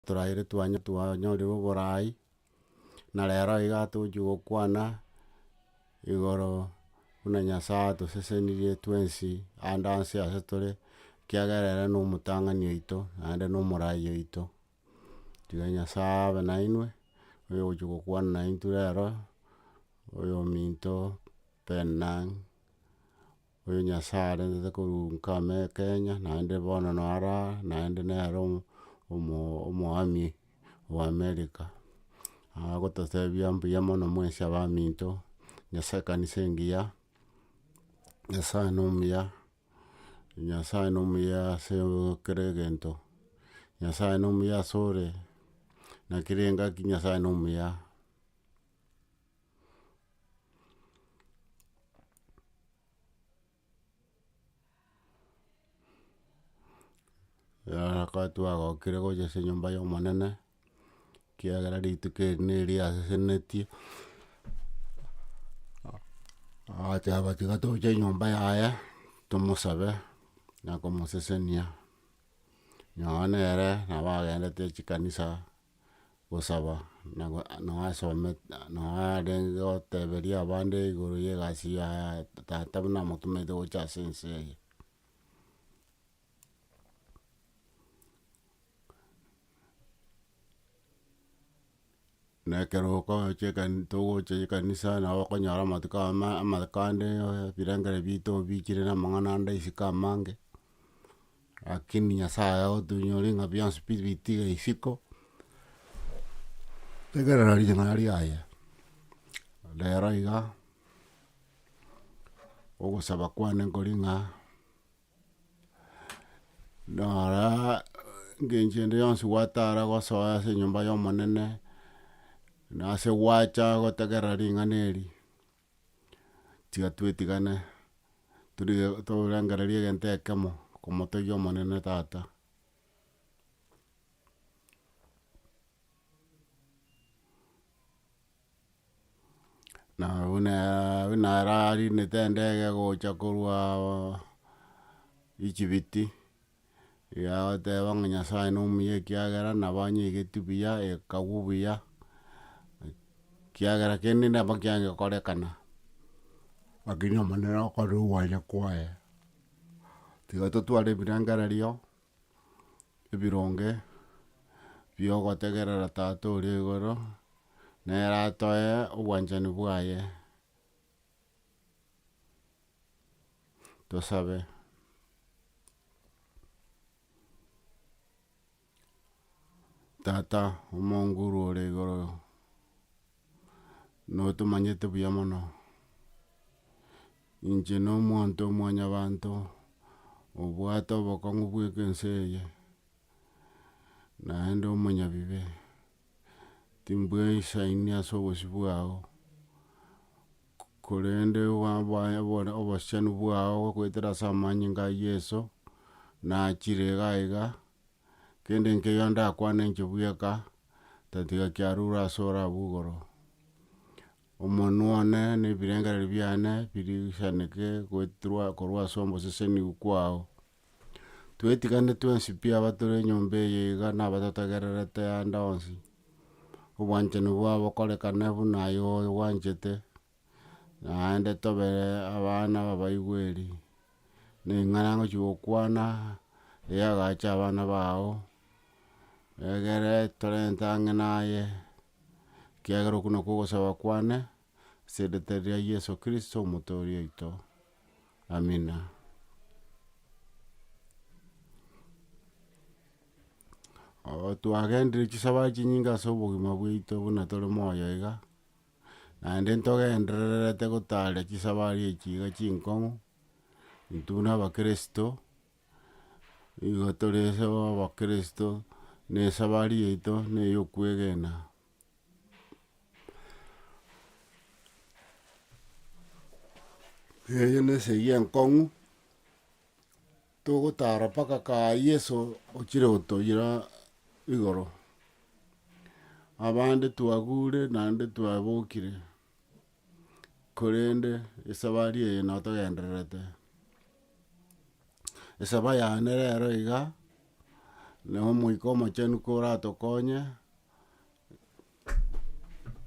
Toraire twanya twanyorire oboraai, na rero iga tochia gokwana igoro buna Nyasae atosesenirie twensi ande anse ase tore, ekiagera ere nomotang'ani oito, naende nomoraai oito. Tiga Nyasae abe nainwe, oyogochia gokwana naintwe rero, oyominto, Penina. Oyo Nyasae arentete korwa nkame Kenya, naende bono no ara aa, naende nere omo- omo- omoami o America. Agototebia mbuya mono mwensi abaminto, Nyasae ekanisa engiya, Nyasae no omuya, Nyasae no omuya ase kera egento, Nyasae no omuya ase ore, naki rengaki Nyasae no omuya. Nyasae twagokire gocha ase enyomba y'omonene, ekiagera rituko eri neria asesenenetie, agoteba tiga toche enyomba yaye, tomosabe na komosesenia, nonya nere nabo agendete chikanisa. gosaba, na go nao asome nao arenge goteberia abande igoro ya egasi ya tata buna amotometie gocha ase ense eye. na ekero okochi ekani togocha ekanisa nabo okonyora amatuko ama amakande ebirengera bito obichire na amang'ana ande isiko amange. Rakini Nyasae otoinyore ng'a bionsi pi bitige isiko, tegerera ring'ana riaye. Rero iga, ogosaba kwane nkori ng'a, noraa engencho ende yonsi gwatara gosoa ase enyomba ya Omonene, nase gwacha gotegerera ring'ana eri. tiga twetigane torengereria egento ekemo komotegia omonene tata. Na buna buna ararindete endege gocha korwa Echibiti. Yagoteba ng'a Nyasaye nomuya ekiagera nabo anyeigeti buya, ekagwa buya, ekiagera kende nabo kiagekorekana. Lakini Omonene okore ogwania kwaye. Tiga totware ebirengererio ebironge biogotegerera Tata oria igoro, nere atoe obwanchani bwaye. Tosabe. Tata omonguru ore igoro, notomanyete buya mono, inche no omonto omwanyabanto, obwate obokong'u bweka ense eye, naende omonyabibe. timbwesaini ase obosio bwao, korende obosiani bwao goetera ase amanyinga a Yeso, nachire iga iga, kende nkeyo ndakwane inche bweka, tatiga kiarure ase ore abwo igoro. Omonwe one na ebirengereri biane birigisaneke goeterwa korwa ase oboseseniu kwao. Twetigane twensi pi abatore enyomba eye iga nabatotegererete ande onsi, obwanchani bwabo bokorekane buna aye obwanchete, naende tobe abana babaigweri, na eng'ana ngochi gokwana eye agacha abana bao, egere torente ang'e naye, ekiagera okwo nokwo ogosaba kwane. as'erieta ria Yeso Kristo Omotooria oito. Amina. Oo twagenderire chisaba chinyinge as'obogima bwaito buna tore moyo iga, naende ntogendererete gotaara chisaba aria echi iga chinkong'u, intwe buna abakristo, nigo tore as'abakristo, nesabari yaito neyokwegena. Eyio nesegi enkong'u, togotara mpaka kaye Yeso ochire gotoira igoro. Abande twagure naende twabokire. korende esabari eye no togendererete. Esaba yane rero iga, na omoika omochenu koratokonye,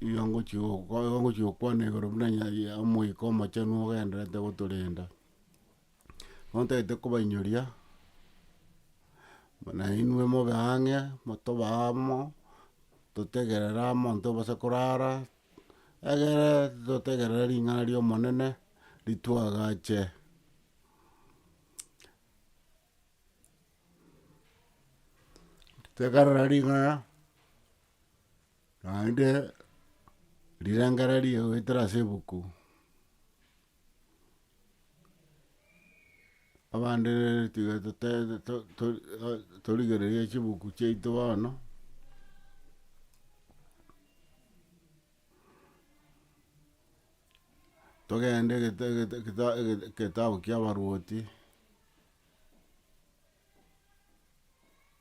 nigo ngochi gokwa nigo ngochi gokwana igoro buna nya ya omoika omochenu ogendererete gotorenda. Bono ntagete kobainyoria, buna inwe mobe ang'e, motobe amo, totegerere amo intwe base korara. Egere totegerere ring'ana ri'Omonene rituagache. Tegerera ring'ana naende rirengererio goetera ase ebuku. abande tiga tote- to- to- torigereria chibuku chiaito bono, togende gete- gete- geta- geta- getabu kiabaruoti.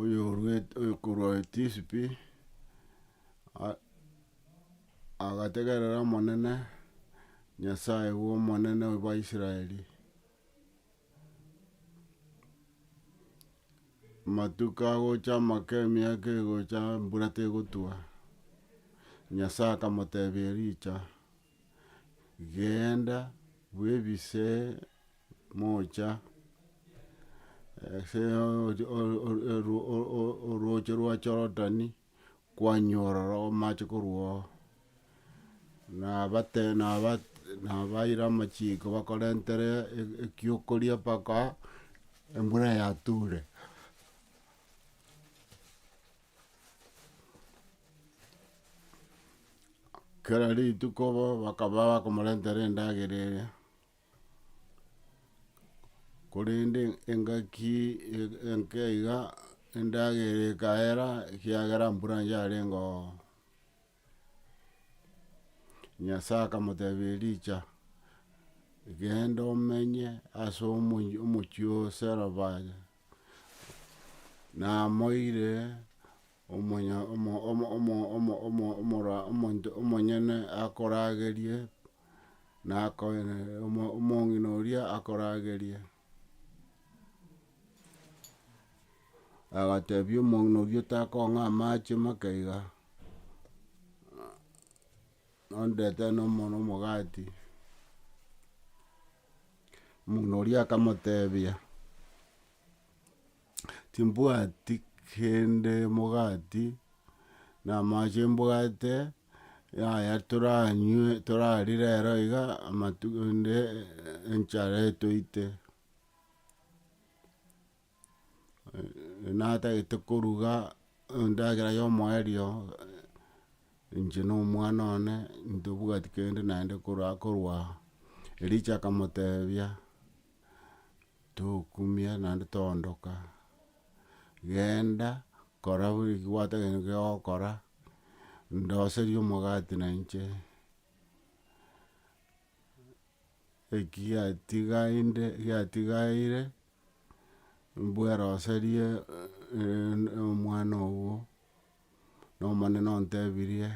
oyoruete oyokorwa etisipi a- agategerera omonene, Nyasaye bwa omonene bwa Israeli, amatuko agocha amake emiaka egocha embura tegotwa, Nyasaye akamotebia Elija. Genda bwebise mocha ase orooche rwa Jorodani, kwanyora ororo amache korwa ororo, nabaira amachiko bakorentere ekiokoria mpaka embura yature. Kera rituko bo bakaba bakomorentera endagera eria, korende engaki e- enke iga endagera ekaera ekiagera mbura yarengoo, Nyasae akamotebia Elija, genda omenye ase omo- omochie o Sarefati. Namoire omonto omonyene akoragerie, na omong'ina oria akoragerie, agatebia omong'ina oria otakong'a amache make iga, nondetere nomogati. Omong'ina oria akamotebia, Timbwati kende emogati, na amache mbwate, yaya toranywe torarie rero iga, amatuko ende enchara etoite. natagete koruga endagera ya omoerio, inche na omwana one, ntobwati kende naende korwa korwa aa. Ericho akamotebia, tokumia naende toondoka, genda kora buna eki gwatagete nigo ogokora, ndoserie omogati na inche, eki giatigainde giatigaire. mbweroserie omwana ogo, na omonene ontebirie,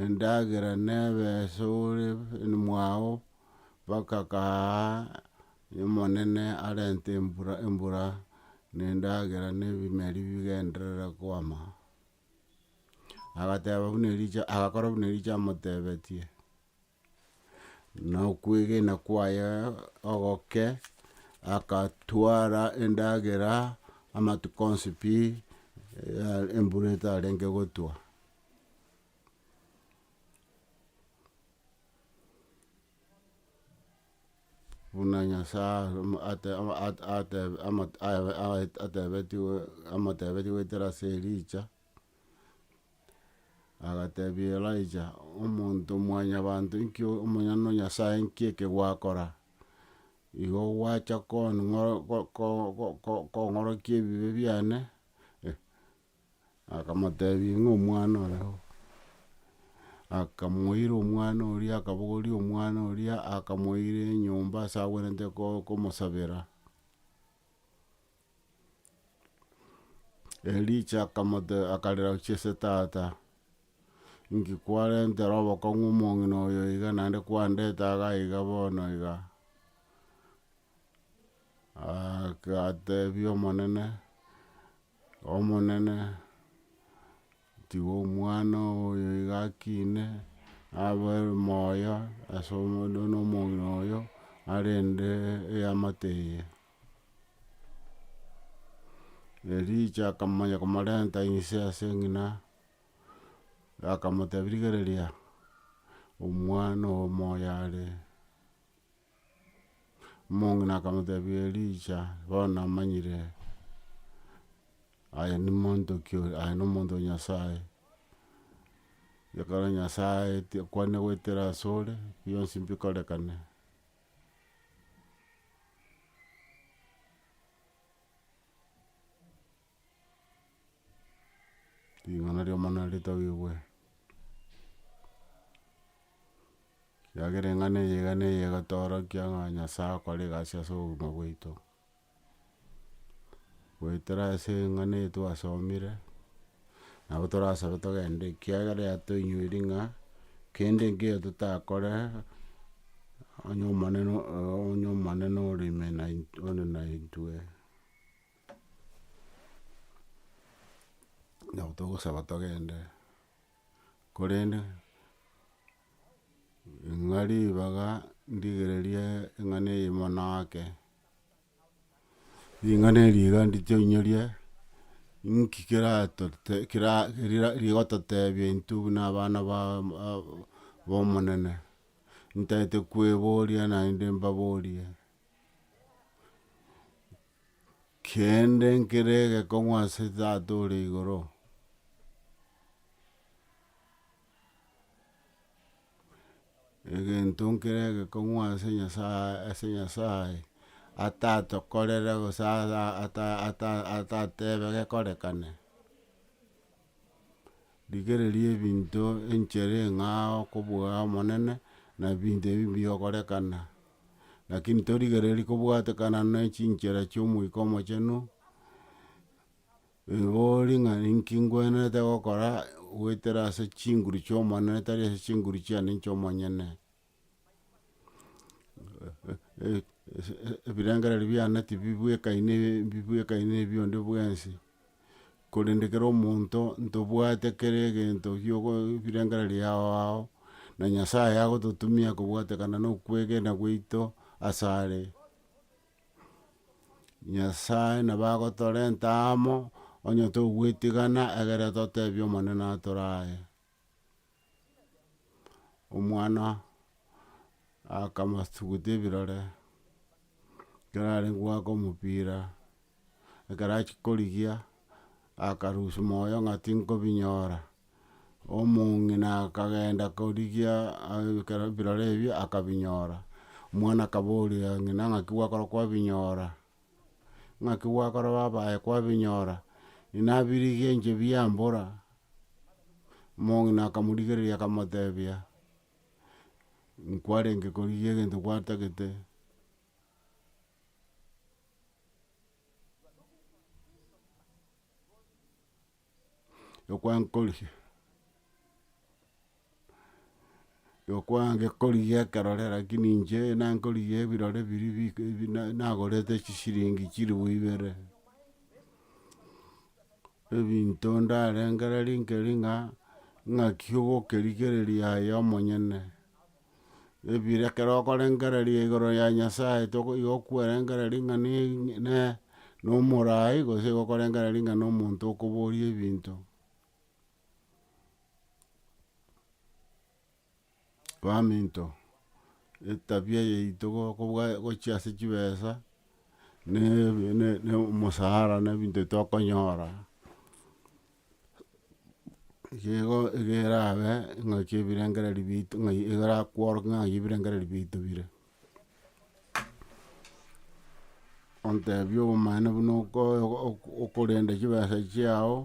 endagera nebe ase ore mwao mpaka kaaaa omonene arente embura embura na endagera na ebimeri bigenderere kwama. Agateba buna Elisha agakora buna Elisha amotebetie. na okwegena kwaye ogoke, agatwara endagera amatuko onsi pi, embura etarenge gotwa. Buna Nyasae atebetigwe amotebetigwe goetera ase Elija. Agatebia Elija, Omonto mwanyabanto, inki Omonyene Nyasae inki eke gwakora? Igo gwacha kong'orokia ebibe biane? Akamotebia ng'a omwana ore oo. Akamoira omwana oria akabogoria omwana oria akamoira enyomba ase agwenerete komosabera. Elija akamotebia, akarera gochia ase tata, inki kwarentera obokong'u omong'ina oyo iga naende kwandete iga iga bono iga? Agatebia Omonene, Omonene, tiga omwana oyo iga akine, abe moyo ase omong'ina oyo arende eamate eye. Elija akamanya komorenta inse ase eng'ina, akamotebia rigereria omwana oo moyo are, omong'ina akamotebia elija bono namanyire aye nimonto ki oyo aye nomonto o nyasaye, ekero nyasaye aeti akwane goetera asore, bionsi mbikorekane. Ring'ana ri'omorembe naritabigwe, ekiagera eng'ana eyio iga neyio egotoorokia ng'a Nyasae akore egasi as'obogima bwaito. goetera ase eng'ana eye twasomire, nabo torasabe togende ekiagera yatoinyoiri ng'a, kende nkeiyo totakore, onye omonene onye omonene ore ime naint ore naintwe. Nabo togosaba togende, korende ng'a ribaga ndigererie eng'ana eye mono ake. Ring'ana eri iga nditoinyoria, inki keratote kera rira rigototebia intwe buna abana ba b'omonene, ntaete kweboria naende mbaborie, kende nkere egekong'u ase tata ore igoro. egento nkere egekong'u ase Nyasaye ase Nyasaye, atatokorere gose ara ata- ata- atatebe gekorekane. Rigereria ebinto enchere eng'ao okobua omonene, na ebinto ebi mbigokorekana, lakini torigereria kobwatekana ne chinchera chia Omoika Omochenu. Rigori ng'a ninki ngwenerete gokora goetera ase chinguru chi'Omonene, tari ase chinguru chiane inche omonyene. Ebirengererio biane tibibwekaine mbibwekaine ebi onde bwensi, korende kera omonto ntobwate kera egento giogo ebirengererio yao ao, na Nyasaye agototumia kobwatekana na okwegena gwaito asare. Nyasae nabo agotorenta amo, onye togwetigana egere totebie Omonene atore aye. Omwana akamasuguta ebirore, ekero arenge goaka omopira, ekero achia korigia, akarusia moyo ng'a tinkobinyora. omong'ina akagenda korigia ekero ebirore ebio akabinyora, omwana akaboria ng'ina ng'aki gwakora kwabinyora? Ng'aki gwakora babaye kwabinyora? Ninabirigie inche biambora, omong'ina akamorigereria akamotebia, nkwarenge korigia egento gwatagete, yokwankorigi yokwangekorigi ekerore rakini inche nankorigi ebirore biri bi bi na nagorete chisiringi chilifu ibere, ebinto ndarengere rinkeri ng'a ng'aki ogokerigereria aye omonyene. ebire ekero okorengereria igoro ya Nyasae toko igo okwerengereria ng'a ne ne na omoraai gose igo okorengereria ng'a na omonto okoboria ebinto. baminto, etabia yaito gokobwa gochia ase chibesa na na omosara na ebinto bitokonyora. Igo igo erabe ingaki ebirengereri bito ng'a igo erakworoke ng'a ng'ai ebirengereri bito bire. ontebie obomaene buna okoe oko- okorenda chibesa chiao,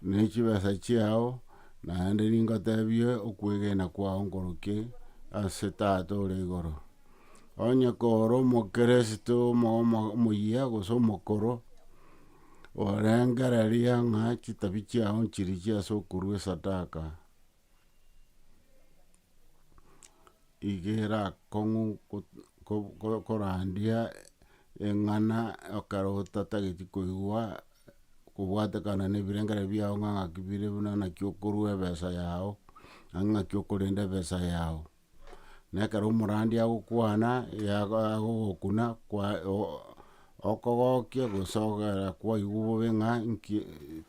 ne chibesa chiao, naende ningotebie okwegena kwao nkorokie ase tata ore igoro. Onye koro omokeresito omo- omo- omoyia gose omokoro. Orengereria ng'a chitabi chiao nchirichia ase okorua esadaka, iga erakong'u korandia eng'ana ekero otatageti koigwa kobwatekana ne ebirengereri biao ng'a ng'aki bire buna ng'aki okorua ebesa yao, ng'aki okorenda ebesa yao. na ekero omorandia agokwana agogokuna okogokia gose ogera kwaigwa bobe ng'a nki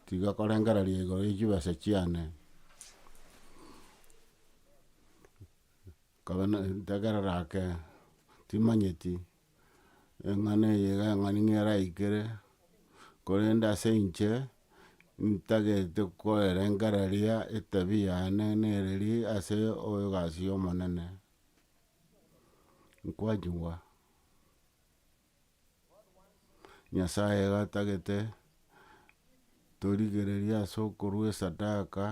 tiga korengereria igoro ya chibesa chiane. Nkabe na ntegerera ake timanyeti. eng'ana eye iga eng'ani ng'a eraikere, korende ase inche, ntagete koerengereria etabia yane nereri ase egasi ya omonene, nkwachigwa. Nyasaye iga atagete torigereria ase okorwa esadaka.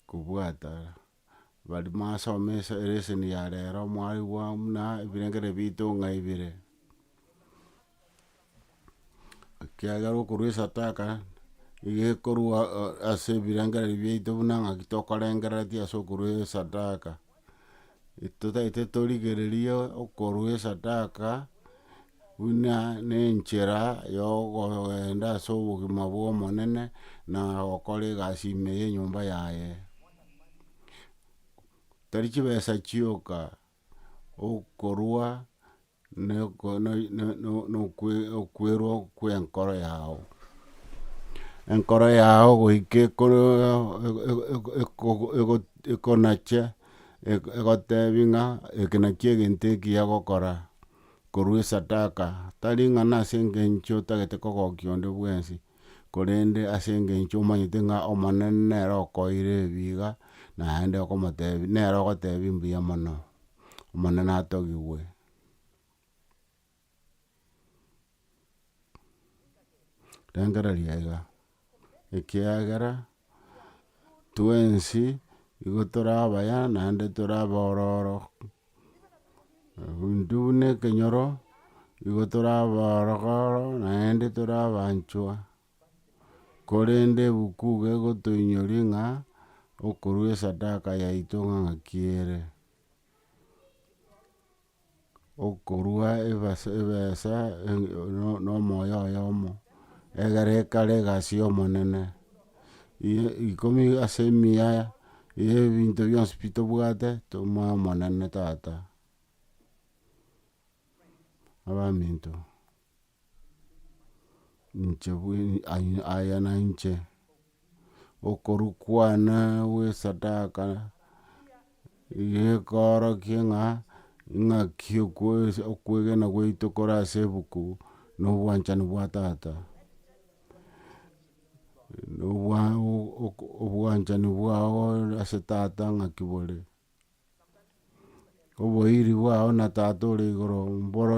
kobwata bari masoma esa elesson ya rero mwarigwa buna ebirengeri bito ng'a ibire. Ekiagera okorwa esataka, iga ekorwa ase ebirengeri biaito buna ng'aki tokorengereretie ase okorwa esadaka. totaete torigereria okorua esadaka, buna nenchera ya okogenda ase obogima bwa Omonene, na gokora egasi ime ya enyomba yaye. Tari chibesa chioka, okorua. nokwerwa kwenkoro yao, enkoro yao goika ekonache egotebi ng'a eke nakio egento ekiya gokora, korwa esadaka, tari ng'a nase engencho otagete kogokia onde bwensi, korende ase engencho omanyete ng'a omonene nere okoeire ebi iga, naende okomotebi nere ogotebi mbuya mono. Omonene atogigwe. Rengereria aiga, ekiagera twensi nigo tore abaya naende tore abororo, intwe buna ekenyoro nigo tore abororo naende tore abanchwa. Korende ebuku gegotoinyoria ng'a okorua esadaka yaito ng'aki ere, okorua ebesa na omoyo oyomo, egere ekare egasi y'Omonene. Ikomi ase mia ye ebinto bionsi pi tobwate tomoe Omonene tata, abaminto. Inche bweri aya nainche, okorwa kwane gwesadaka, gekoorokia ng'a ing'aki okwegena gwaito kore ase ebuku na obwanchani bwa tata. Obwanchani bwao ase tata ng'aki bore. Oboiri bwao na Tata ore igoro mboro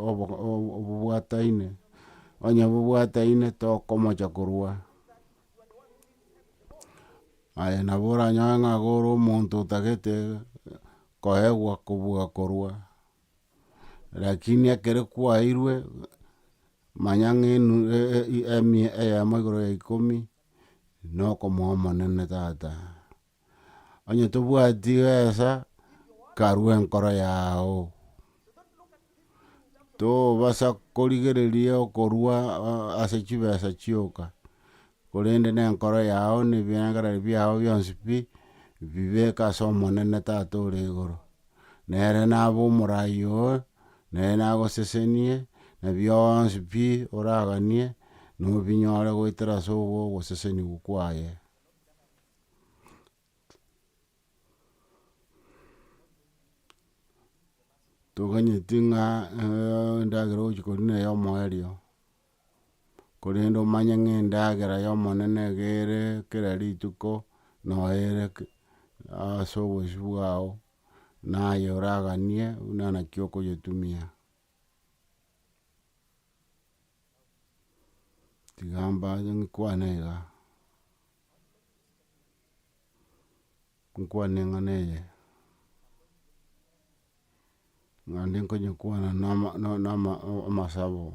obobwataine, onye bobwataine tokomocha korwa. Aye nabo oranyore ng'a iga ore omonto otagete koegwa kobua korwa, lakini ekere kwairwe, manya ng'a enu emia eyemo igoro ya ikomi, nokomoa omonene tata. Onye tobwati gesa karue enkoro yao tobasa korigereria okorua ase chibesa chioka korende ne enkoro yao ne ebirengererio biao bionsi pi bibeke ase omonene tata ore igoro nere nabe omoraai oo nere nagosesenie na bionsi pi oraganie nobinyore goetera ase ogosesenigwa kwaye. toganyeti ng'a endagera ogochia koria neye omoerio, korende omanye ng'a endagera ya omonene nigo ere kera rituko, noyo ere ase obosio bwao, naye oraganie buna naki okonyetumia. Tiga mbache nkwane iga, nkwane eng'ana eye, naende nkonyekwana na ama na ama amasabo,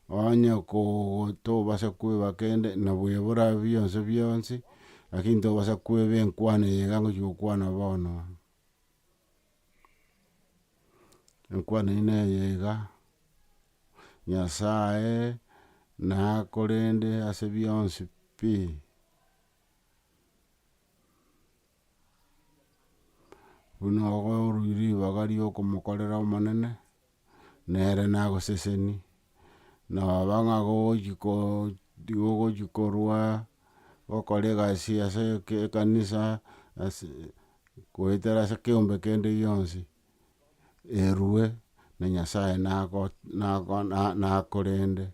onye koo tobasa koeba kende nabo ebora bionsi bionsi, lakini tobasa koeba enkwana eye iga ngochi gokwana bono. Enkwana eyio neye iga, Nyasaye nakorende ase bionsi pi. Buna okoruirie ribaga riokomokorera Omonene. nere nagoseseni, noba ng'a gogochi ko gogochi korwa, gokora egasi ase eke ekanisa, ase goetera ase ekeombe kende gionsi, erwe na nyasae nago nago na nakorende.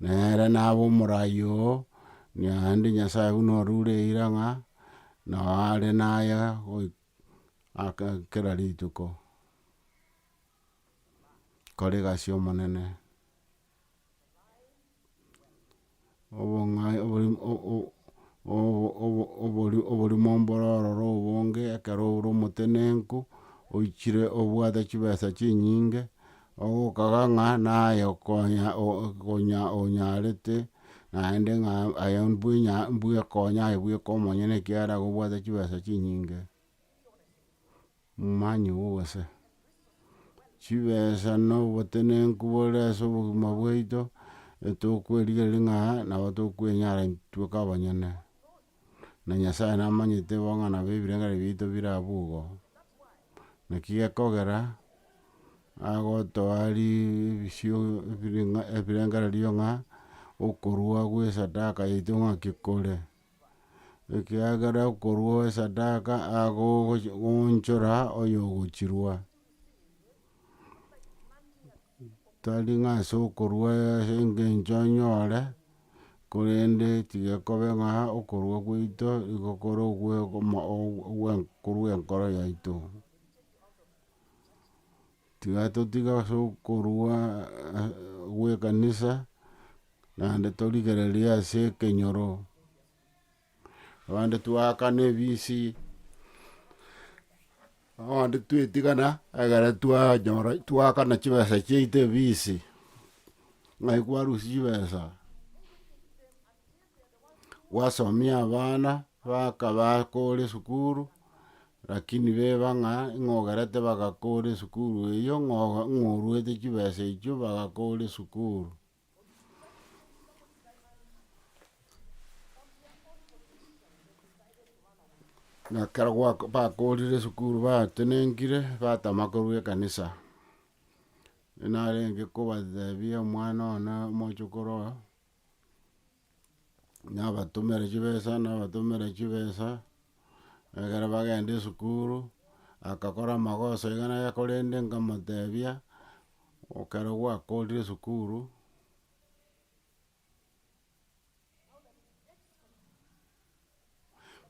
Nere naba omorai oo, naende nyasae buna orure eira ng'a, nao are naye goik aka kera rituko. kore egasi y'omonene, obong'ai oborimo mboro ororo obonge ekero ore omotenenku, oichire obwate chibesa chinyinge, ogokaga ng'a naye okonya onya onyarete naende ng'a aye mbwenya mbwekonya aye bweka omonyene ekiagera nigo obwate chibesa chinyinge. Momanyi obo gose? Chibesa na obotenenku bore ase obogima bwaito etokwerigereria ng'a nabo tokwenyara intweka abanyene. Na Nyasae namanyete bo ng'a nabo ebirengererio biaito bire abwo igo. Naki gekogera agotoa ribisio ebirengererio ng'a okorua gwesadaka yaito ng'aki kore. ekiagera okorua esadaka agogoonchora oyogochirua, tari ng'a ase okorua ase engencho onyore, korende tigekobe ng'a okorua gwaito nigo kore ogwe korwa enkoro yaito. Tigatotiga as'okorua gw'ekanisa, naende torigererie as'ekenyoro, abande twaakana ebisi, abande twetigana ekero twanyora twaakana chibesa chiaito ebisi, ng'ai kwarusia chibesa. gwasomia abana bakaba kore esukuru, rakini beba ng'a ng'a ogerete bagakore esukuru eyio ng'a oga ng'a oruete chibesa echio bagakore esukuru. Na ekero gwako bakorire esukuru batenenkire, batama korwa ekanisa, narenge kobatebia omwana one omochokoro oyo, nabatomere chibesa nabatomere chibesa, ekero bagenda esukuru, agakora amagoso iga na iga korende nkamotebia, ekero gwakorire esukuru.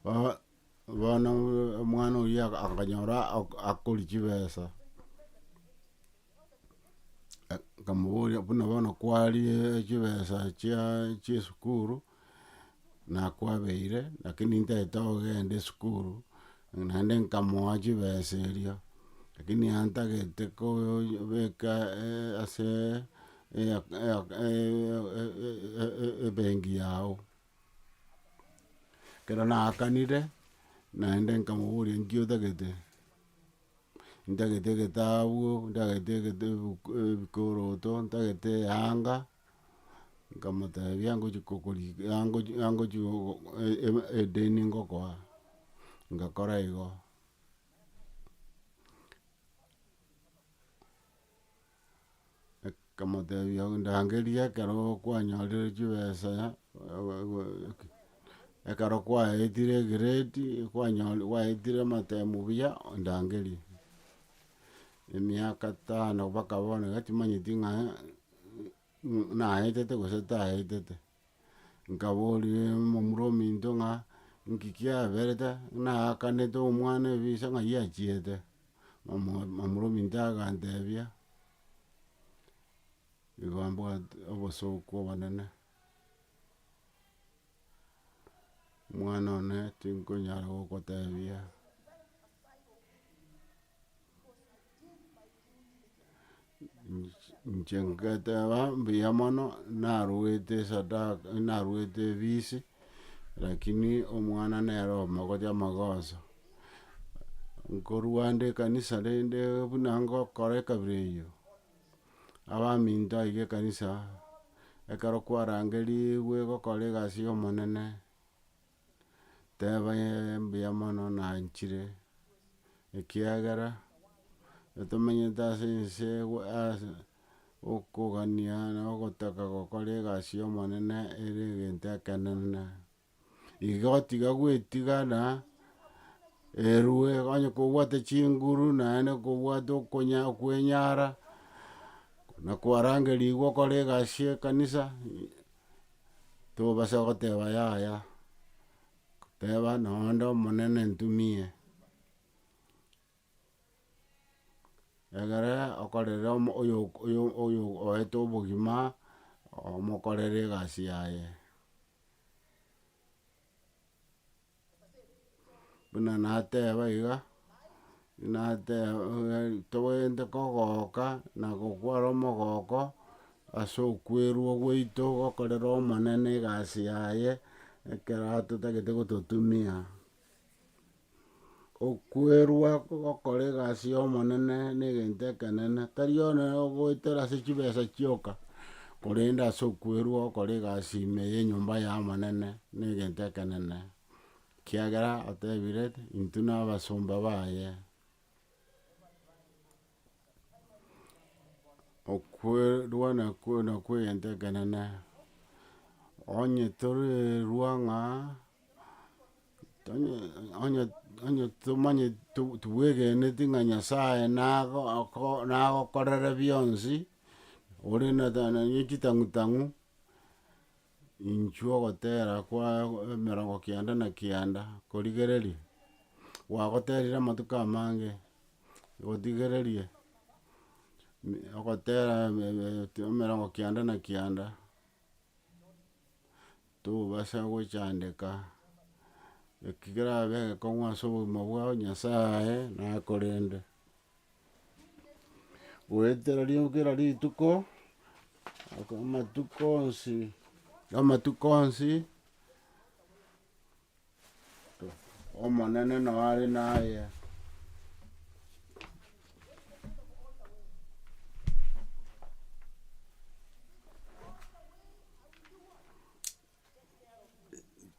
Bo- bono omwana oyio aka- akanyora ak- akori chibesa, nkamoboria buna bono kwarie chibesa chia chia esukuru, nakwabeire lakini ntaete ogenda esukuru, naende nkamoa chibesa erio, lakini yantagete kobeka ase ebengi yao. Ekero naakanire, naende nkamoboria nki otagete, ntagete egetabu, ntagete egete ebuku ebikoroto, ntagete eyanga, nkamotebia ngochia kokori angochi angochi gogo edeni ngokoa, ngakora igo. Akamotebia ndangerie ekero kwanyorire chibesa ekero kwaetire egrade kwanyore kwaetire amatemu buya ondangerie. Emiaka tano mpaka bono iga timanyeti ng'a naetete gose taetete. Nkaboria omomura ominto ng'a, Inki kiaberete? Ng'a naakanete omwana ebise ng'ai achiete? Omo- omomura ominto agantebia, Igo mbwate obosooku obonene, omwana one tinkonyara gokotebia. Inche ngeteba mbuya mono narwete esadaka narwete efisi, rakini omwana nere omogocha amagoso, nkorwa ande ekanisa rende buna ngokora ekabira eyio, abaminto aike ekanisa, ekero kwarangerigwe gokora egasi y'omonene. Teba ee mbuya mono nanchire, ekiagera tomenyete ase ense ewe ase okogania na ogotaka gokora egasi y'omonene ere egento ekenene. Igo tiga gwetiga na erwe onye kobwate chinguru naende kobwate okonya kwenyara, na kwarangerigwa okore egasi y'ekanisa. tobasa goteba yaya, teba nonya onde omonene ntumie, egere okorere omo oyo- oyo- oyo oete obogima, omokorere egasi yaye. buna nateba iga, nateba tobwenerete kogoka na gokwara omogoko, ase okwerwa gwaito gokorera omonene egasi yaye, ekero atotagete gototumia. Okwerua gokora egasi y'Omonene negento ekenene, tari one ogoetera ase chibesa chioka, korende ase okwerua gokora egasi ime y'enyomba y'Omonene negento ekenene, ekiagera otebire, intwe nabasomba baye. Okwerua nakwo nakwo egento ekenene, onye torerua ng'a. Tonywe- onye- onye tomanye to- tobwegeneti ng'a nyasaye nago oko nagokorere bionsi, ore na ta- na ne chitang'u tang'u, inchuo ogotera kwa emerongo kianda na kianda korigereria, gwagoterire amatuko amange, gotigereria mi- ogotera eme- eme- emerongo kianda na kianda. Tobasa gochandeka eki kerabe egekong'u ase obogima bwao Nyasae nakorende. Goetera ri- kera rituko, amatuko onsi, amatuko onsi. Omonene nao are naye.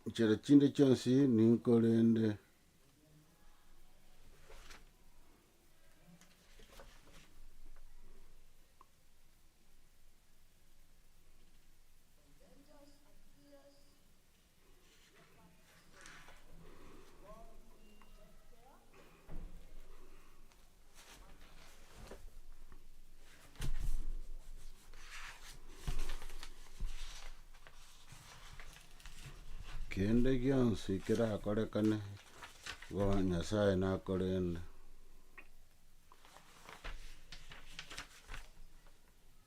Nchera chinde chionsi ninkorende. Kende gionsi kerakorekane igo Nyasaye nakorende.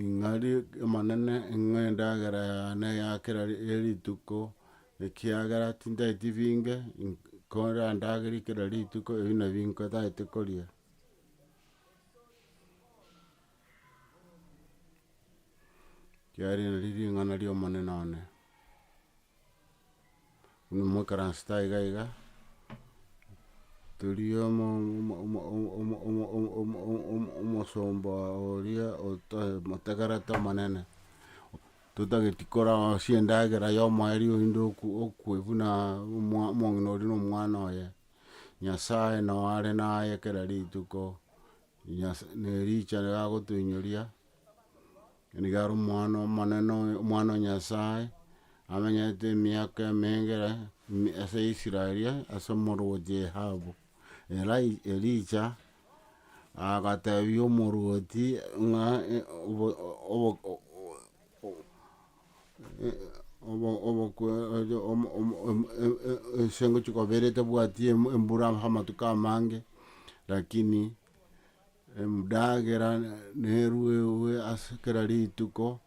Ing'ari Omonene ing'o endagera yane ya kera rituko, ekiagera tintageti binge, korandagere kera rituko ebi nabi nkotaete koria. Kiagera eri nari ring'ana ria Omonene one. Buna mwaikaransete aiga iga, toria omo omosomba oria omotegerete omonene, totageti korasie endagera ya omoerio oyinde okwe buna omong'ina oria na omwana oye, Nyasaye nao are naye kera rituko, Nyasaye ne richera agotoinyoria. Nigo are omwana omonene oyo, omwana o Nyasae, amenyete emiaka emenge ase Israel, ase omorwoti Ahabu. Elai- Elija agatebia omorwoti ng'a obo- obo- obo- obokwe omo- omo- omo- e- e- ense ngochia kobera etabwati embura amatuko amange, lakini. Emdagera neruegwe ase kera rituko,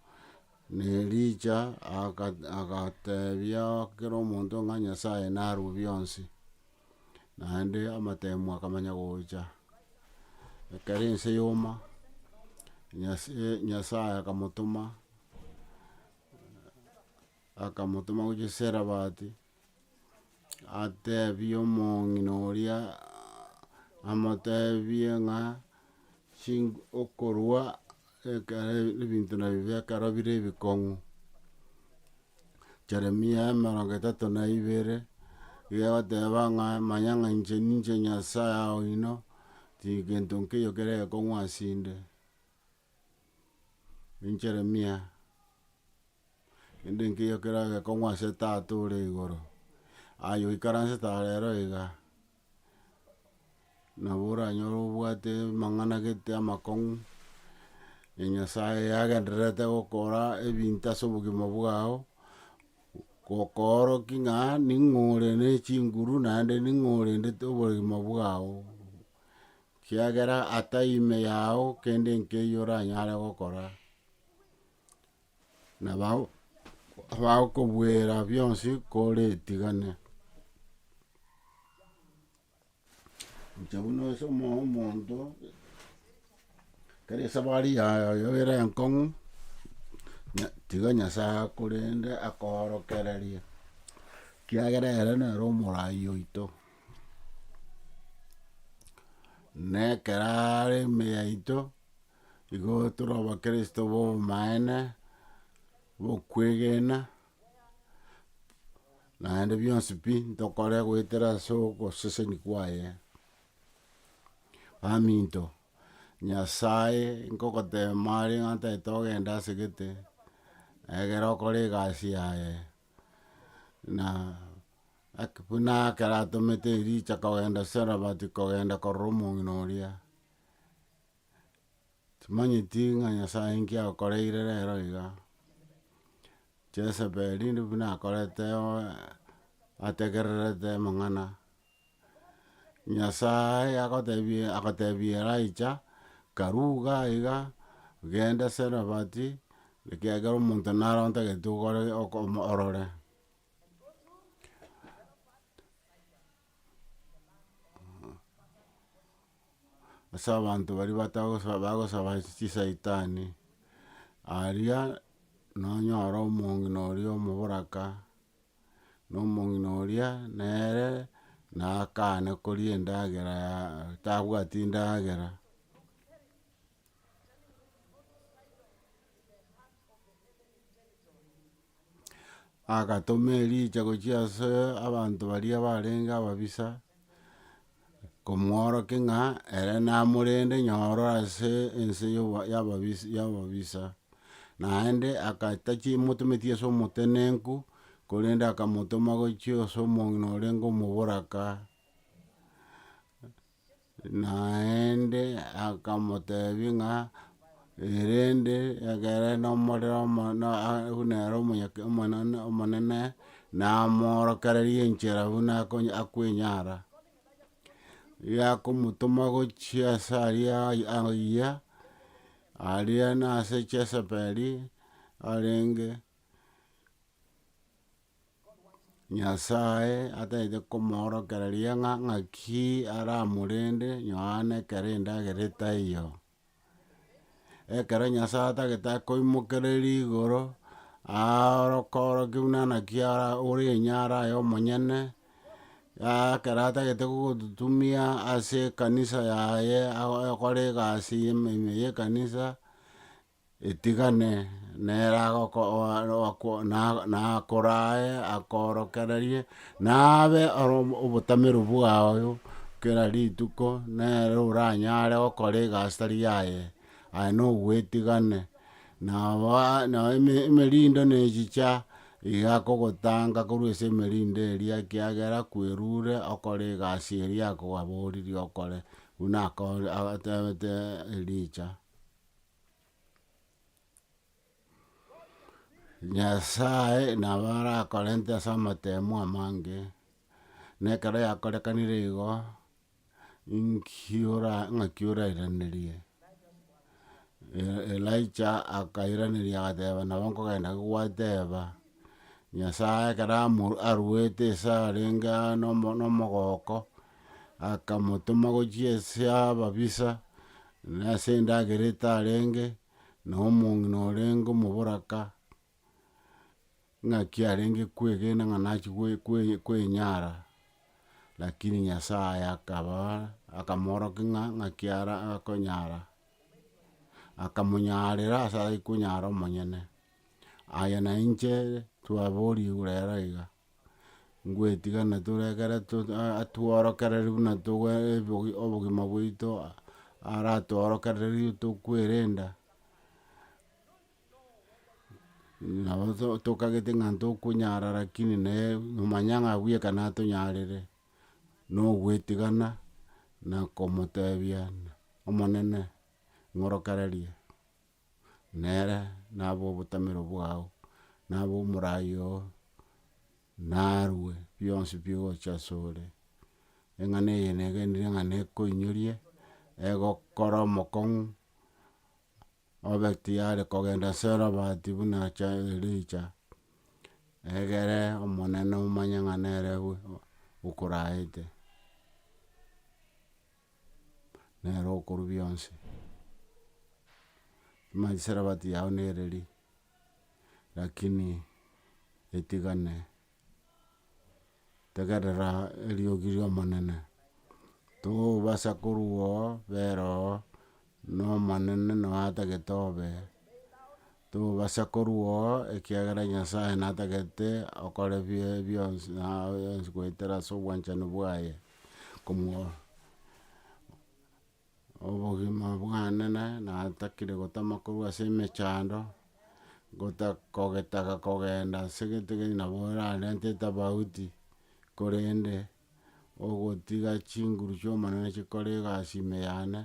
na Elija aga- agatebia kera omonto ng'a Nyasaye narue bionsi, naende amatemu akamanya gocha. Ekero ense yoma, Nyase- Nyasaye akamotoma akamotoma gochia Sarephat. Atebie omong'ina oria, amotebie ng'a chinko okorwa ekero ebinto nabibe ekero bire ebikong'u, Jeremia emerongo etato na ibere, iga egoteba ng'a manya ng'a inche ninche Nyasaye oino, tigento nkeiyo kere ekong'u asinde, ninche Jeremia. Kende nkeiyo keragekong'u ase Tata ore igoro, aye oikaransete are ero iga, nabo oranyore obwate amang'ana gete amakong'u, na Nyasaye agendererete gokora ebinto ase obogima bwao, gokoorokia ng'a ning'o ore ne chinguru naende ning'o orendete oboremo bwao, kiagera atai ime yao kende nkeiyo oranyare gokora. na bago- bagokobuera bionsi koretigane. Inche buna ase omo- omonto, ekero esabari yago ere enkong'u, nya- tiga nyasae akorende akoorokererie, ekiagera ere nere omoraai oito, na ekero are ime yaito. Igo tore abakristo b'obomaene, bokwegena, naende bionsi pi ntokore goetera ase ogoseseni kwaye. Baminto, Nyasae nkogoteema are ng'a ntagete ogenda ase gete, egere okore egasi yaye, na ake buna ekero atomete Elija kogenda Sarephat kogenda korora omong'ina oria. Timanyeti ng'a Nyasae inki agokoreire rero iga, Jesebeli ndiri buna akorete oe ategererete amang'ana, Nyasae agotebia agatebia Elijah, karuga iga, genda Sarephat, ekiagera omonto nare ontagete okore oko orore. ase abanto baria batagosa bagosaba ase chisaitani, aria nonyore omong'ina oria omoboraka, na omong'ina oria nere nakane koria endagera ya tabwati ndagera. agatoma Elija gochia ase abanto baria barenge ababisa, komworokia ng'a ere namorende nyoro ase ense ya yababisa yababisa, naende agatachi motometi ase omotenenku, korende akamotoma gochia ase omong'ina orenge omoboraka. Naende akamotebia ng'a, erende ekere nomorero omo- na a- buna ere omonyake omonene omonene, namoorokereria enchera buna akonye akwenyara. Riria akomotoma gochia ase aria ai- aiyia, aria nase Chesebeli arenge. Nyasae atagete komoorokera riang'a ng'aki aramorende Yohana ekero endagera etaiyo. Ekero Nyasae atagete akoimokereria igoro, aoroke oroke buna naki ara- ore enye ara aye omonyene, ekero atagete gogototumia ase ekanisa yaye ago- agokora egasi ime ime ya ekanisa. etigane nere agoko- o- o- ako- na- nakorae akoorokererie, nabe ore omo- obotameru bwago kera rituko, nere oranyare gokora egasi tari yaye, aye na ogwetigane. Nabo aa- nabo eme- emerindo na echicha iga akogotanga korwa ase emerindo eria ekiagera kwerure okore egasi eria akoaboririe okore, buna ako- ago- atebete Elija. Nyasae nabo arakorente ase amatemo amange, na ekero yakorekanire igo, inki ora ng'aki orairanerie? E- Elijah akairaneria agateba nabo nkogenda gogwateba, Nyasae ekero amo aruete esarenge aa nomo- nomogooko. akamotoma gochia ase ababisa, na ase endagera etarenge, na omong'ina orenge omoboraka, ng'aki arenge kwegena ng'a nachia gwe- gwe- gwenyara, lakini Nyasaye akaba akamoorokia ng'a ng'aki ara akonyara, akamonyarera ase aye konyara omonyene. Aye nainche twaborigwe rero iga. ngwetigana tore ekero to- a- atworokereri buna togo ebogi obogima bwaito aratworokererie tokwerenda, nabo to tokagete ng'a ntokonyara rakini naye nomanya ng'a abuya ekero natonyarire, na ogwetigana, na komotebia omonene ng'orokererie. nere nabo obotamero bwao, nabo omorai oo, narue bionsi bigocha ase ore, eng'ana eye negenire ng'a nekoinyorie, egokora omokong'u, obe tiyari kogenda ase robati buna cha Elija, egere omonene omanye ng'a nere okoraete. nere okorwa bionsi. Manye sarabati yao nere ri, rakini etigane tegerera eriogi riomonene, tobasa korwa oo bera oo Nomonene nao atagete obe, tobasa korua oo, ekiagera Nyasae natagete okore bie bionsi na aye yonsi goetera ase obwanchani bwaye, komwa obogima bwane na natakire gotama korwa ase emechando, gota kogetaga kogenda ase gete gete nabo orarente etafauti, korende, ogotiga chinguru chi'omonene chikore egasi ime yane.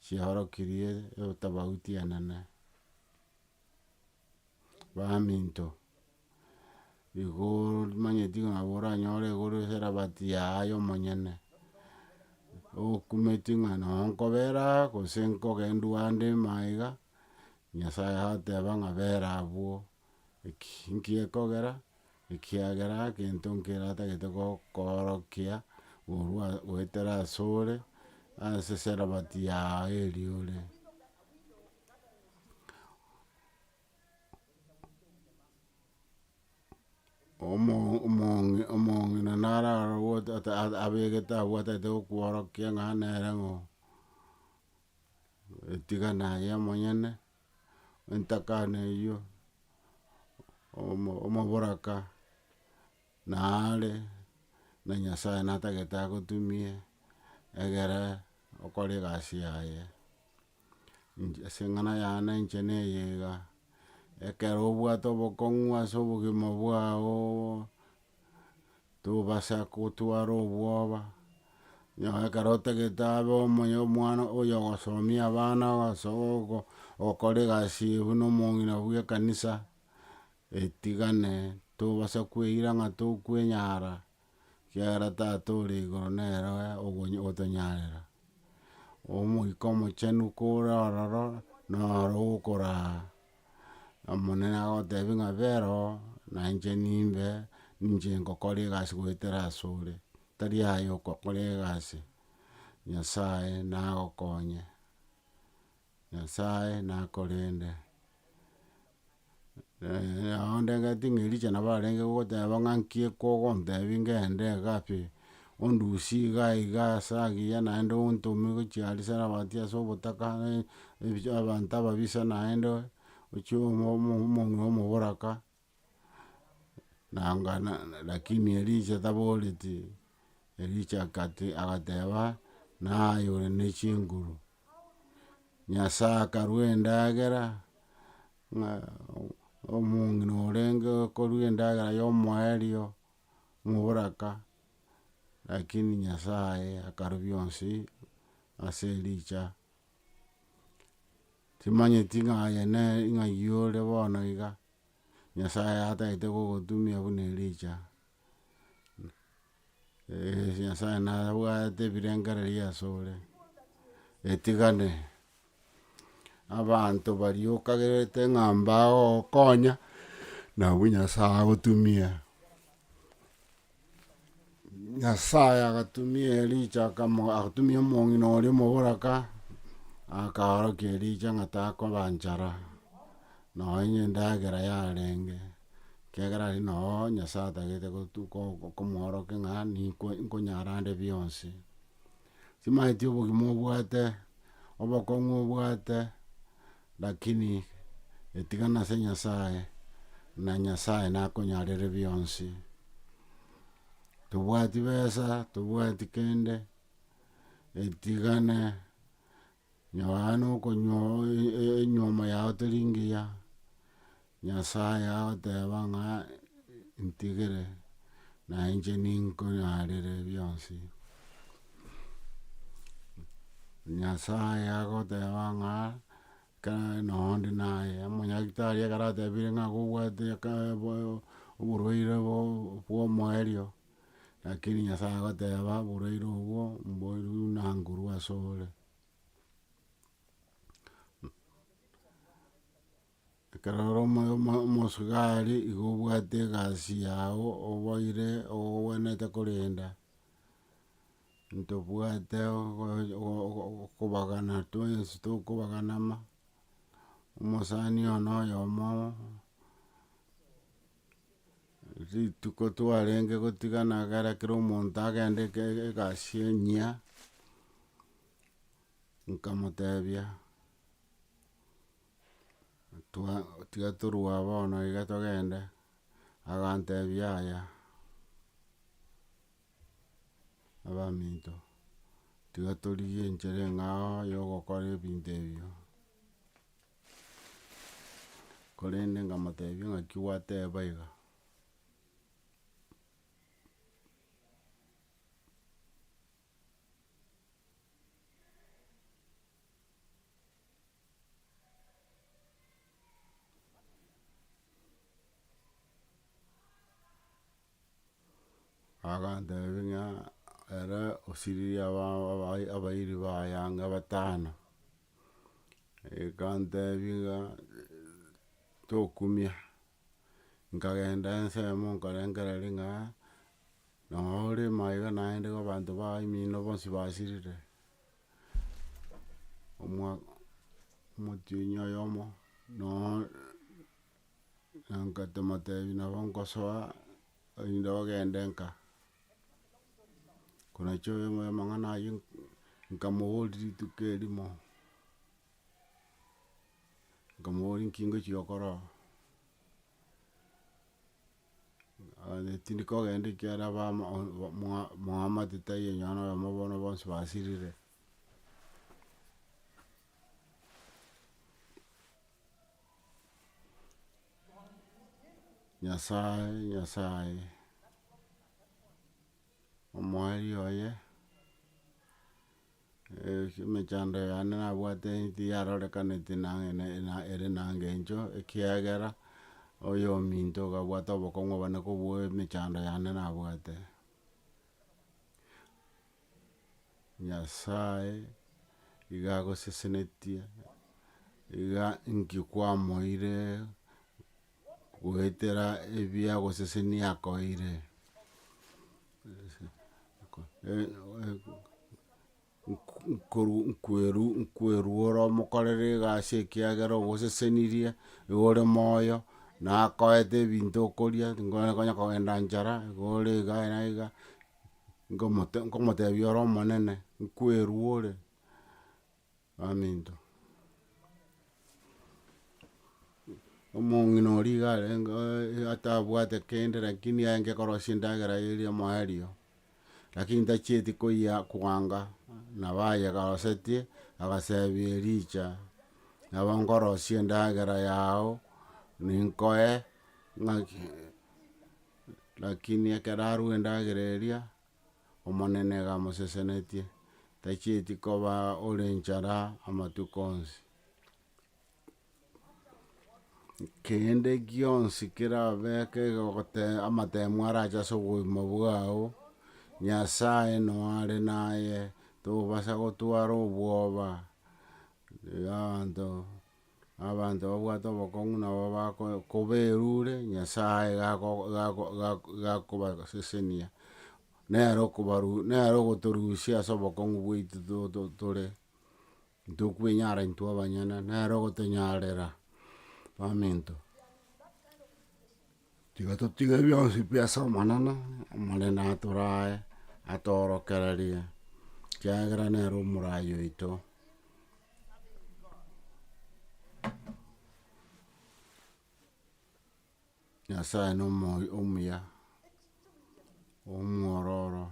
chiaorokirie etofauti enene. Baminto, igo omanyeti ng'a nabo oranyore igoro eserabati yaye omonyene, okumeti ng'a noo nkobera aa gose nkogendu ande imaiga, Nyasaye agoteba ng'a bera abwo. Eki nkekogera, ekiagera gento nkeratagete gokoorokia korwa goetera asore, ase eserabati yao eria ore. Omo- omo- omong'ina nararogwe abegete abwatagete gokworokia ng'a nere ng'o. etigana aye omonyene, entakana eyio, omo- omoboraka naare, na nyasaye natagete agotumie, egere okore egasi yaye. Inche ase eng'ana yane inche na eye iga, ekero obwate obokong'u ase obogima bwao, tobasa gotwara obwoba, nonya ekero otagete abe omonye omwana oyo ogosomia abana ase ogo- ogokora egasi eye buna omong'ina bw'ekanisa, etigane tobasa kweira ng'a tokwenyara, ekiagera tata ore igoro nere ogo- otonyarera. Omoika omochenu kore ororo, noro okoraa. Omonene agotebia ng'a bera oo, na inche nimbe, ninche ngokora egasi goetera asore, tari aye okokora egasi, Nyasaye nagokonye, Nyasaye nakorende. ondengeti ng'a Elija nabo arenge gogoteba ng'a nki ekogontebia ngende iga pi, Ondusie iga iga ase agiya naende ontome gochia aria Sarafati ase obotaka, abanto ababisa naende, ochie omonwe omoboraka, nanga lakini Elisha taboreti, Elisha agateba, naye ore ne chinguru, Nyasaye akarua endagera, ng'a omong'ina orenge okorua endagera y'omoerio. moboraka, rakini Nyasaye akarobia onsi ase ericha, timanyeti ng'a aye nere ng'a yore bono iga, Nyasaye atagete gogotumia buna ericha, Nyasaye nabwate ebirengererio asore, etigane. Abanto baria okagerete ng'a mbagogokonya, nabwo Nyasae agotumia. Nyasae agatumia Elija akamo agatumia omong'ina oria omoboraka, akaorokia Elija ng'a takoba nchara, nonye endagera yarenge, ekiagera aria noo Nyasae atagete gotu ko- ko- komworokia ng'a ninko nkonyara nde bionsi. Timaeti obogima obwate, obokong'u obwate, lakini etigana ase Nyasaye, na Nyasaye nakonyarere bionsi. Tobwati besa, tobwati kende, etigana. Nonya okonywa enywomo yao teri ngiya, Nyasae agoteba ng'a ntigere, na inche ninkonyaarere bionsi. Nyasae agoteba ng'a ekero noo onde naye, omonyagetari ekero atebire ng'a nigo obwate oborwaire bwa omoerio. Rakini Nyasae agoteba, Boraire obwo mboirwe buna nguru ase ore. Ekero ore omo- omo- omosubari igo obwate egasi yao oboire ogwenerete korenda, ntobwate ogo- ogo- okobagana twensi tokobaganama, omosani oyomo noyomo. Rituko twarenge gotigana egere kera omonto agende eke- egasi enyia, nkamotebia, twa- tiga torue aba bono iga togende, agantebia yaya, abaminto, tiga torigie enchera eng'ao yogokora ebinto ebio. Korende nkamotebia ng'aki gwateba iga, agantebia ng'a ere osiririe abana abairi ba ayanga batano. Ekantebia ng'a tokumia, nkagenda ensemo nkarengereria ng'a nonya orema iga naende iga abanto baye emino bonsi basirire, omwa- omotienyi oyomo nonya na nkamotebi nabo nkosoa erinde ogende nka. Konacha oyo oyo amang'ana aywo nkamoboria rituko erimo, nkamoboria nki ngochia gokora oo, aye tindi kogenda ekiagera abamo mwa mwamate taiyo onye nonye oyomo bono bonsi basirire. Nyasae, Nyasae, omoeeri oye, emechando yane nabwate eti yarorekaneti nang'e na ena ere na engencho, ekiagera oyo ominto okabwata obokong'u obonene kobua emechando yane nabwate. Nyasae iga agosesenetie, iga inki kwamoeire goetera ebiagosesenia akoeire nkwerure omokorere egasi ekiagera ogosesenirie, igo ore moyo, nakoete ebinto okoria, tikonya kogenda nchara, igo ore iga na iga. nkomote nkomotebia ore omonene, nkwerua ore, baminto. Omong'ina oria iga arenge oe atabwate kende lakini aenge korosia endagera eye eri omoerio, lakini ntachieti koyia koanga, nabo aye garosetie, agasebia Elija, nabo nkorosia endagera yao, ninkoe ng'aki. Lakini ekero arue endagera eria, Omonene igamosesenetie, tachieti koba ore enchara amatuko onsi. Kende gionsi kerabeke gote amatemo arache ase obogima bwao, Nyasae noyo are naye, tobasa gotwara obwoba, abanto. Na abanto babwate obokong'u nabo bako- koberure, Nyasae gako- gako- gako- gakobasesenia, nere okobaru nere ogotorusia ase obokong'u bwaito to- to- tore, ntokwenyara intwe abanyene, nere ogotonyarera, baminto. Tiga totige bionsi pi ase Omonene, Omonene atorae, atoorokererie, ekiagera nere omoraai oito. Nyasae na omo- omuya, omwororo,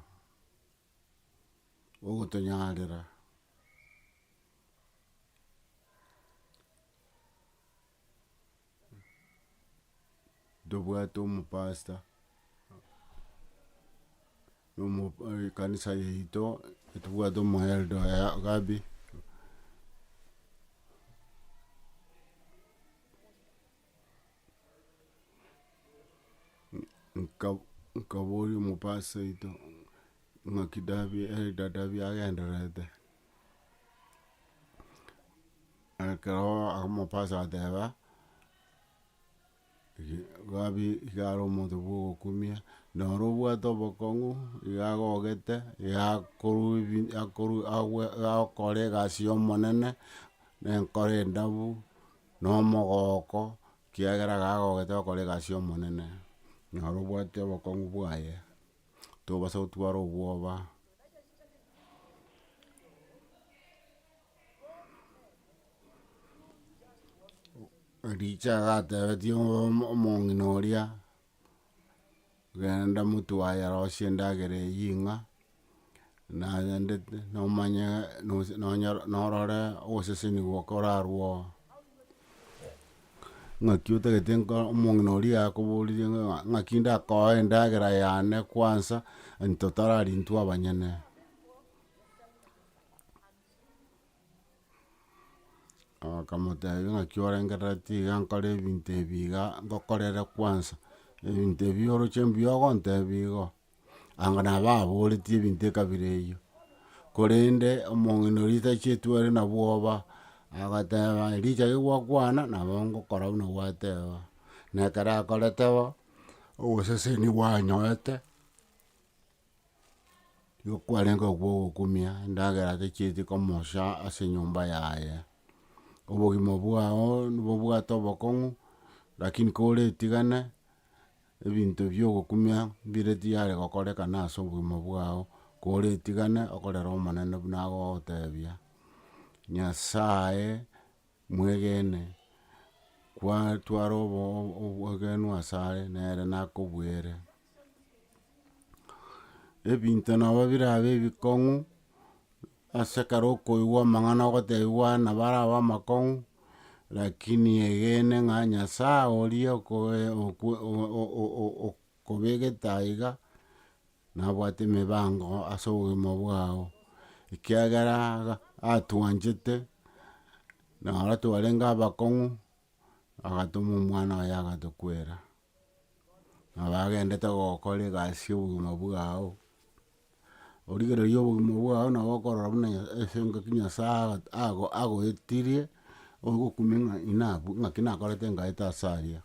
ogotonyarera, ntobwate omopasta, ekanisa yaito ntobwate omoelda oye gabe, nka- nkaboria omopasta oito ng'aki dabe elda dabe agendererete. Ekero akamopasa agateba, Gabi iga are omonto bwa ogokumia, noro obwate obokong'u, iga agogete, iga akorwa ebi akoru agwe agokora egasi ya omonene, na enkoro endabu, na omogooko, ekiagera iga agogete gokora egasi ya omonene, noro obwate obokong'u bwaye, tobasa gotwara obwoba. Ericho agatebetia omo- omong'ina oria, genda motwaye arosie endagera eyio ing'a, naendete nomanye nosi nonyoro norore oboseseni bokorarwo oo. Ng'aki otagete nko omong'ina oria akoboreria ng'a ng'aki ndakoe endagera yane kwansa, anto tarari intwe abanyene. Akamotebia naki orengereretie iga nkore ebinto ebi iga ngokorere kwansa, ebinto ebi oroche mbuya ogontebia igo, anga nabo ababoretie ebinto ekabira eyio, korende omong'ina oria tachetwe ore na bwoba, agoteba erichia rigokwana nabo ngokora buna gwateba, na ekero akorete bo, oboseseni bwanyorete. Igo kwarenge okwo ogokumia endagera atacheti komosha ase enyomba yaye. Obogima bwao nobobwate obokong'u, rakini koretigane, ebinto bio ogokumia mbire tiyare gokorekana ase obogima bwao, koretigane okorere omonene buna agogotebia, Nyasaye. Mwegene, kwatwara obogenu asare, nere nakobuere. Ebinto nabo birabe ebikong'u, ase ekero okoigwa amang'ana ogotebiwa nabo arabe amakong'u, rakini egene ng'a Nyasae oria okoe okwe o- o- o- o- o. Kobegete aiga, nabwate emebango ase obogima bwao, ekiagera iga atwanchete, na aro twarenge abakong'u, agatoma omwana oye agatokwera, nabo agendete gokora egasi ya obogima bwao, origereria obogima bwao nabo okorora buna nya ase engaki nyasae aga- ago agoetirie, ogokumia ng'a inabwo ng'aki nakorete ngaete ase aria.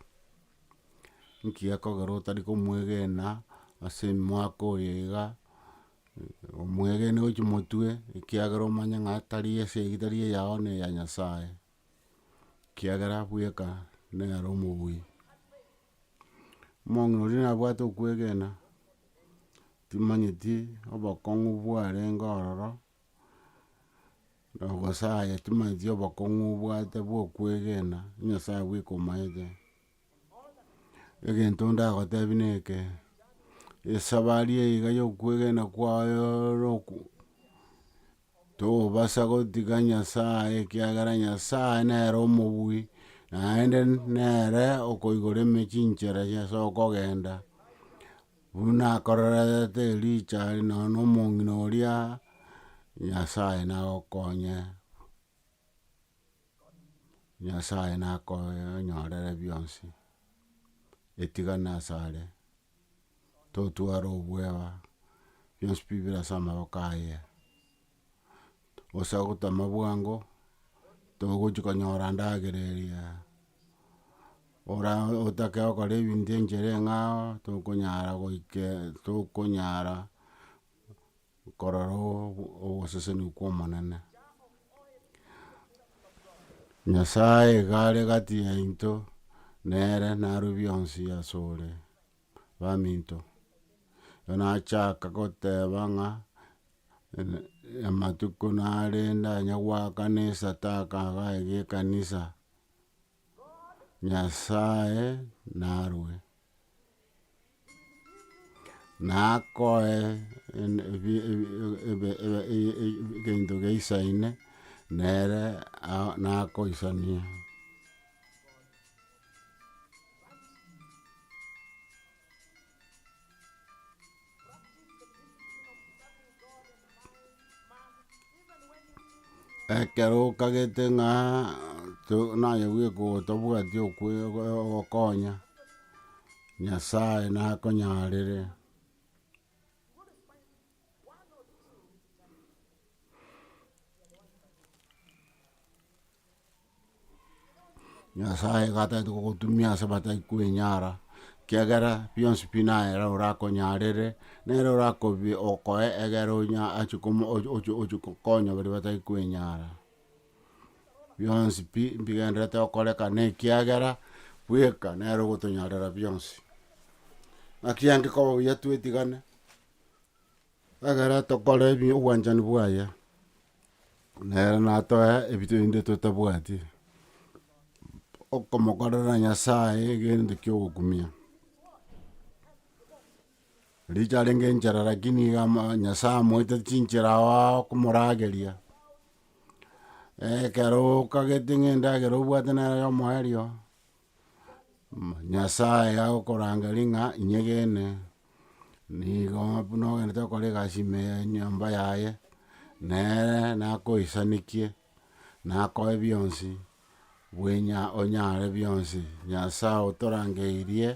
Nki gekogera otari komwegena ase emwaka oyo iga, omwegene gochia omotwe, ekiagera omanye ng'a tari ase eyio tari eyao ne eya Nyasaye, ekiagera bweka nere omobui. Omong'ina oria nabwate okwegena, timanyeti obokong'u bwarenge ororo. Nogosaya chimanyetie obokong'u obwate bwa okwegena, Nyasaye bweka omaete. Egento ndagotebie neke, esabari eye iga ya okwegena kwaye roku tobasa gotiga Nyasaye ekiagera Nyasaye nere omobui, naende nere okoigora eme chinchera chiaye ase okogenda, Buna akorerete Elija are nonya nomong'ina oria, Nyasae nagokonye, Nyasae nakonyorere bionsi, etigana asare, totware obwoba, bionsi pi bire ase amaboko aye. gose ogotama bwango, togochi konyora endagera eria, ora otake okora ebinto enchera eng'ao, tokonyara goike tokonyara korora ogoseseni kwa omonene. Nyasaye iga are egati yaito, nere naro bionsi asore. baminto. Ekero nachaka goteba ng'a amatuko narende onye goakana esadaka iga iga ekanisa, Nyasaye narue, nakoe egento geisaine nere nakoisania. Ekero okagete ng'a to- naye bweka otobwati okwe- ogo- ogokonya, Nyasaye nakonyarere. Nyasaye iga atagete gogotumia ase batari kwenyara, ekiagera bionsi pi naye nere oranyarere, nere orakobi okoe egere onya ache komo oche oche oche konya baria batari kwenyara. Bionsi pi mbigenderete okoreka na ekiagera bweka nere ogotonyarera bionsi. Naki angikoba buya twetigane, Ekero tokora ebi obwanchani bwaye, nere natoe ebi rende totabwati, okomokorera Nyasaye egento kia ogokumia. Riria arenge enchera lakini iga ama- Nyasaye amoete chinchera aao komorageria, ekero okagete ng'a endagera obwate nere omoerio. Nyasae agokorangeri ng'a inyegene, nigo buna ogenderete gokora egasi ime ya enyomba yaye, nere nakoisanekie, nakoe bionsi, bwenya onyare bionsi. Nyasae otorangeirie,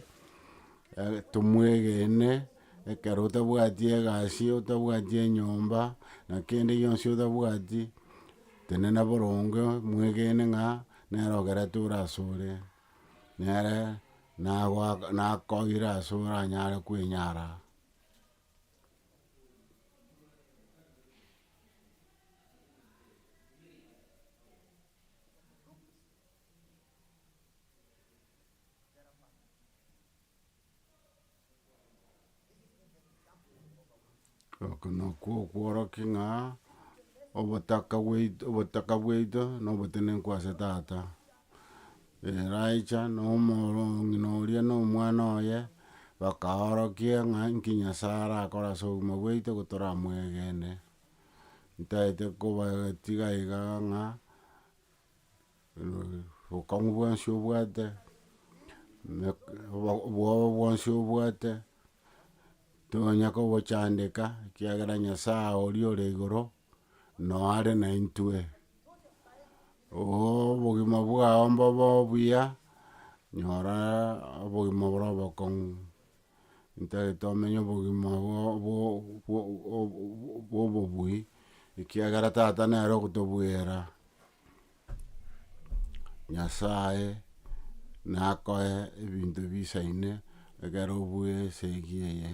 tomwegene, ekero otabwati egasi, otabwati enyomba, na kende gionsi otabwati, tenena boronge, mwegene ng'a Nere ogereture asore, nere nakoire ase oranyare kwenyara. Oko nakwo okworokia ng'a obotaka bwaito obotaka bwaito na obotenenku ase tata, eracha na omoro ng'ina oria na omwana oye, bakaorokia ng'a nki nyasae arakore ase obogima bwaito igo toramwegene, ntaete kobatiga iga ng'a. obokong'u bwonsi obwate, obwoba bwonsi obwate, tonya kobochandeka, ekiagera Nyasaye oria ore igoro, noyo are naintwe. obogima bwao mbobe obuya, nyora obogima obore obokong'u, ntari tomenye obogima bwo- bwo- bwo- bwo- bwo obobui, ekiagera tata nere ogotobwera. Nyasae nakoe ebinto bisaine ekero obue esegi eye.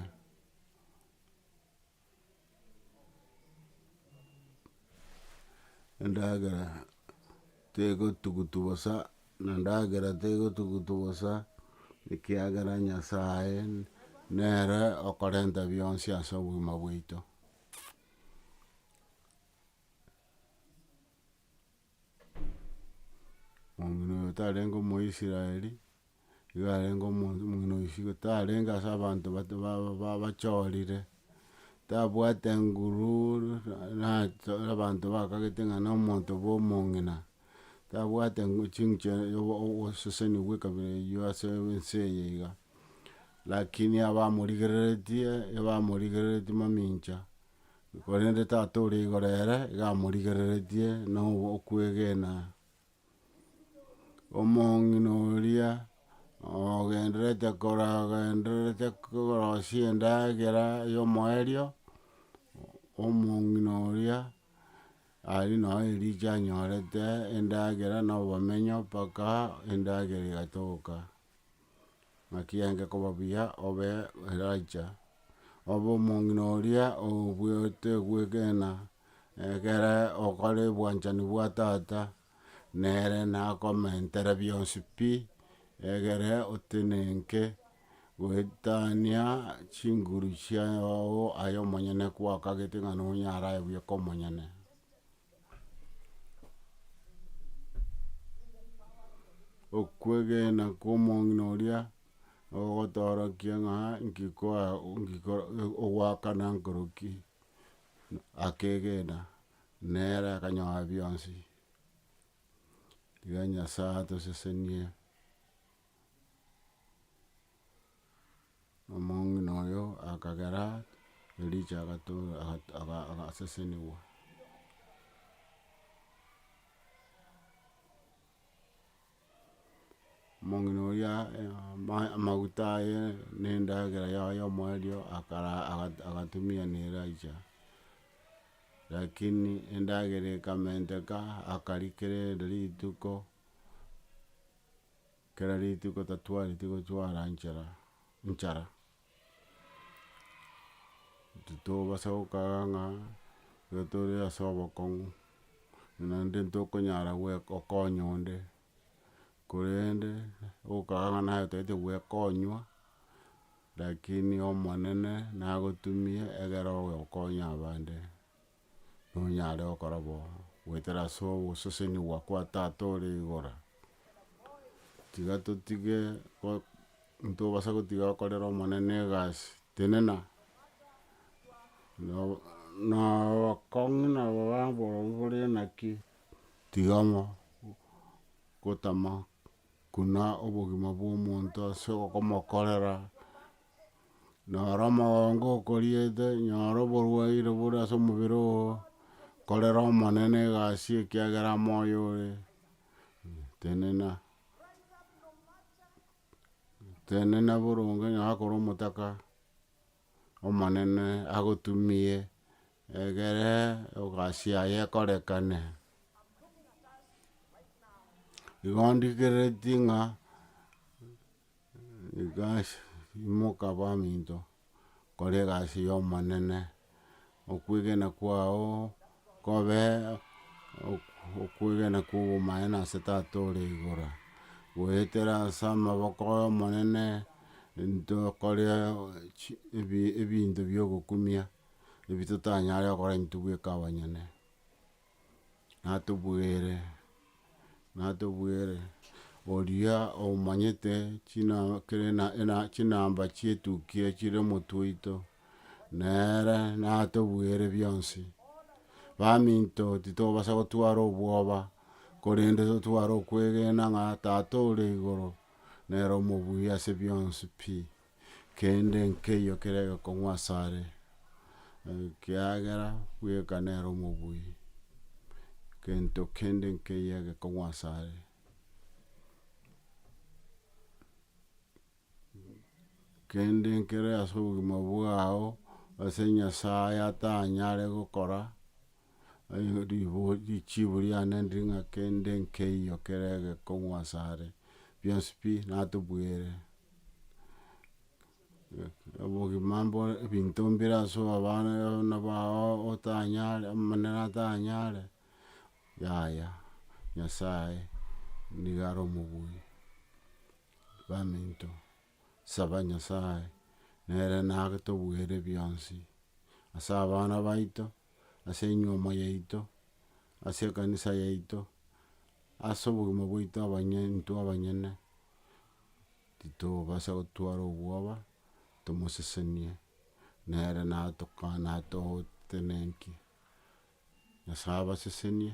Endagera tegotugutu bosa, na endagera tegotugutu bosa, ekiagera Nyasae nere okorenta bionsi ase obogima bwaito. Omino oyo otarenge omoisraeli, igo arenge omonto omino oyo isiko tarenge ase abanto bato baba ba bachorire, tabwate nguru nato abanto bakagete ng'a na omonto bwa omong'ina, tabwate ngu chinche obo oboseseni bwa ekabira eyio ase ense eye iga. Lakini abamorigereretie, ebamorigereretie mamincha. Korende Tata ore igoro ere iga amorigereretie na okwegena. Omong'ina oria ogendererete koragendererete korosia endagera ya omoerio, omong'ina oria aria nao erichia anyorete endagera na obomenyo mpaka endagera egatoka. ng'a ki'enge koba buya obe Elija, obe omong'ina oria obuete gwegena, egere okore obwanchani bwa tata nere nakomentere bionsi pi, egere otenenke goetania chinguru chiago aye omonyene kwakagete ng'a nonyare aye bweka omonyene. Okwegena kw'omong'ina oria nogotoorokia ng'a nki koa nki koro ogwakana nkoroki, akegena nere akanyora bionsi, iga Nyasae atosesenie. Omong'ina oyo akagera Elija agato- aga- aga agasesenigwa. Omong'ina oria ama- amaguta aye na endagera yaye ya omoerio akara aga- agatumia na Elija, rakini endagera ekamenteka akarikera erinde rituko. Kera rituko tatwareti gochwara nchera, nchara. Titobasa gokaga ng'a igo tore ase obokong'u, buna inde ntokonyara goe gokonya onde, korende gokaga ng'a naye otagete goekonywa, lakini Omonene nagotumie egere oye okonya abande. nonyare gokora bo, goetera ase ogosesenigwa kwa Tata ore igoro. Tiga totige go- ntobasa gotiga gokorera Omonene egasi, tenena no- nabakong'u nabo babo borobwo bore naki, tiga mo- gotama Buna obogima bw'omonto ase okomokorera, nyora omogongo okoriete, nyora oborwaire bore ase omobere oo, korera Omonene egasi ekiagera amo oyo ore, tenena, tenena boronge, nyora kore omotaka. Omonene agotumie, egere egasi yaye ekorekane. Igo ndikereti ng'a imoka baminto, kore egasi y'Omonene. Okwegena kwao kobe okwegena kw'obomanene ase Tata ore igoro. Goetera ase amaboko ay'Omonene ntokore ebinto bi'ogokumia, ebi totanyare gokora intwe bweka abanyene. natobwere, natobwere, oria omanyete china kere na ena chinamba chietuki echio chire omotwe oito, nere natobwere bionsi, baminto titobasa gotwara obwoba, korende totware okwegena ng'a tata ore igoro nere omobuya ase bionsi pi. kende nkeiyo kere gekong'u asare, ekiagera bweka nere omobui, gento kende nkeiyo egekong'u asare. Kende nkere ase obogima bwao ase Nyasaye atanyare gokora. richibu riane ndiri ng'a kende nkeiyo kere egekong'u asare, bionsi pi natobwere. Obogima mbore ebinto mbire ase abana abana bao otanyare omonene atanyare, yaya Nyasaye niga are omobui baminto. saba Nyasae, nere nagetobuere bionsi, ase abana baito, ase enyuomo yaito, ase ekanisa yaito, ase obogima bwaito abanye intwe abanyene, titobasa gotwara obwoba, tomosesenie, nere natoka natogotenenkie. Nyasae abasesenie.